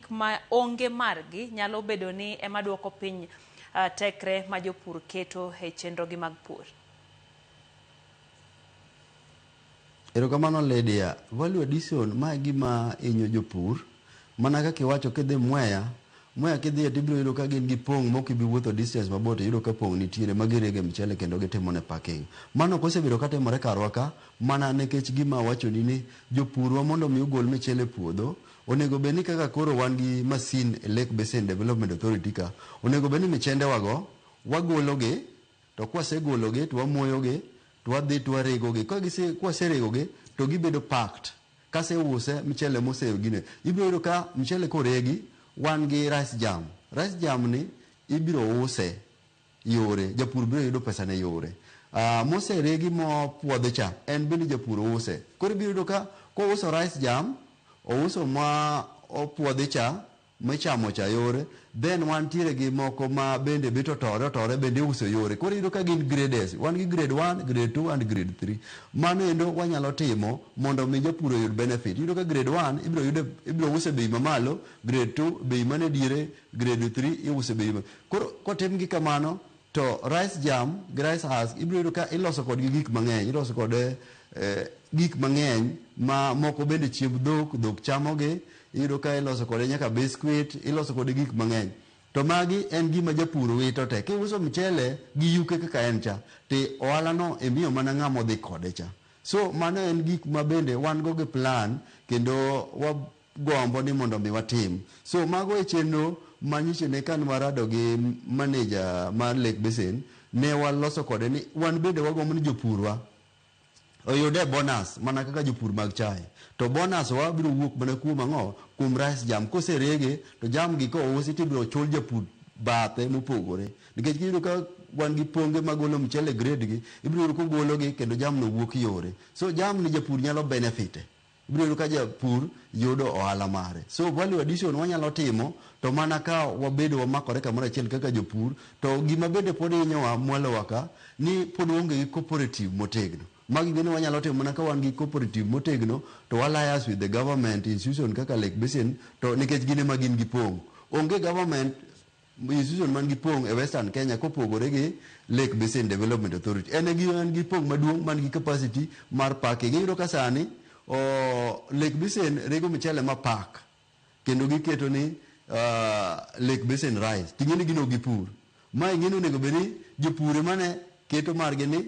Gik ma onge margi nyalo bedo ni ema dwoko piny tekre ma jopur keto e chenrogi mag pur. Erokamano Lydia. Value addition, ma e gima hinyo jopur. Mana kaka iwacho kidhi Mwea, Mwea kidhiye tibiro yudo ka gin gi pong' mok ibi wuotho distance mabor to iyudo ka pong' nitiere ma girege mchele kendo gitimone packing. Mano ok osebedo ka timore karwa ka mana nekech gima awachoni ni jopurwa mondo mi ogol michele e puodho, Onego bed ni kaka koro wan gi masin e Lake Basin Development Authority ka, onego bed ni michendewago wagologi to kwasegologi to wamoyogi to wadhi to waregogi. Ka gise, kwaseregogi to gibedo packed. Kaseuse mchele mose gine, ibiro yudo ka mchele koregi wan gi rice germ. Rice germ ni ibiro use. yore, japur biro yudo pesane yore. Uh, moseregi mopuodhi cha, en bende japur use. Koro ibiro yudo ka kouso rice jam, ouso ma opuodhi cha, michamo cha yore, then wantiere gi moko ma bende bito tore otore bende iuso yore. Koro iyudo ka gin grades. Wan gi grade 1, grade 2 and grade 3. Mano endo wanyalo timo mondo mi japur oyud benefit. Iyudo ka grade 1 ibiro yude ibiro use bei mamalo, grade 2 bei mane diere Grade three iuso e bei maber. Koro kotim gi kamano to rice germ gi rice husk ibiro yudo ka iloso kodgi gik mang'eny. Iloso kode gik mang'eny ma moko bende chiemb dhok, dhok chamogi. Iyudo ka iloso kode nyaka biscuit, iloso kode gik mang'eny. To magi en gima japur wito te. Kiuso mchele gi yuke kaka en cha, to ohalano imiyo mana ng'ama odhi kode cha. So mano en gik ma bende wan go gi plan kendo wa. gombo ni mondo mi watim. So mago e chenro ma nyiche ne kane warado gi manager mar Lake Basin ne waloso kode ni wan bende wagombo ni jopurwa oyude bonus mana kaka jopur mag chae. To bonus wa biro wuok mana kuom ang'o? Kuom rice jam. Koserege to jam gi kousi to ibiro chul japur bathe mopogore. Nikech kiyudo ka wan gi ponge magolo mchele grade gi, ibiro yudo kogologi kendo jamno wuok yore. So jamni japur nyalo benefit e. Ibiro yudo ka japur yudo ohala mare. So value addition wanyalo timo to mana ka wabedo wamakore kamoro achiel kaka jopur. To gima bende pod hinyowa mwalowa ka ni pod waonge gi cooperative motegno. Magi bende wanyalo timo mana ka wan gi cooperative motegno to wa lias with the government institution kaka Lake Basin to nikech gin ema gin gi pong'. Onge government Institution man gi pong' e Western Kenya kopogore gi Lake Basin Development Authority. En e man gi pong' maduong' man gi capacity mar packing. Iyudo ka sani Lake Basin rego mchele ma pack kendo giketo ni Lake Basin Rice. Ting'eni gin ok gipur. Ma ing'eni onego bed ni jopur emane keto margi ni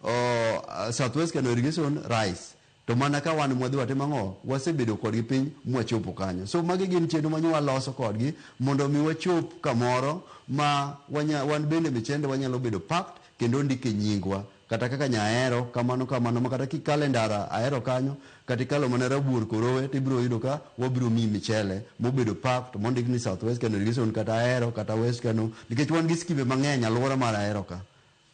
oh, Southwest Kano Irrigation Rice to mana ka wan mwadhi watimo ang'o wasebedo kodgi piny mwachopo kanyo so magi gin chenro ma nyo waloso kodgi mondo mi wachop kamoro ma wanya, wan bende michende wanyalo bedo packed kendo ondike nyingwa kata kaka nyahero kamano kamano ma kata kikale ndara ahero kanyo kata ikalo mana rabuor korowe to ibiro yudo ka wabiro miyi michele mobedo packed mondik ni southwest kano irrigation kata ahero kata west kano nikech wan gi skimbe mang'eny alwora mar ahero ka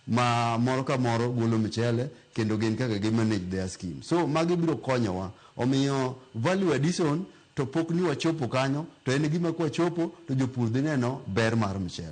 ma moro ka moro golo michele kendo gin kaka gi manage their scheme so magi biro konyowa omiyo value addition to pok ni wachopo kanyo to en gima kwachopo to jopur dhi neno ber mar michele.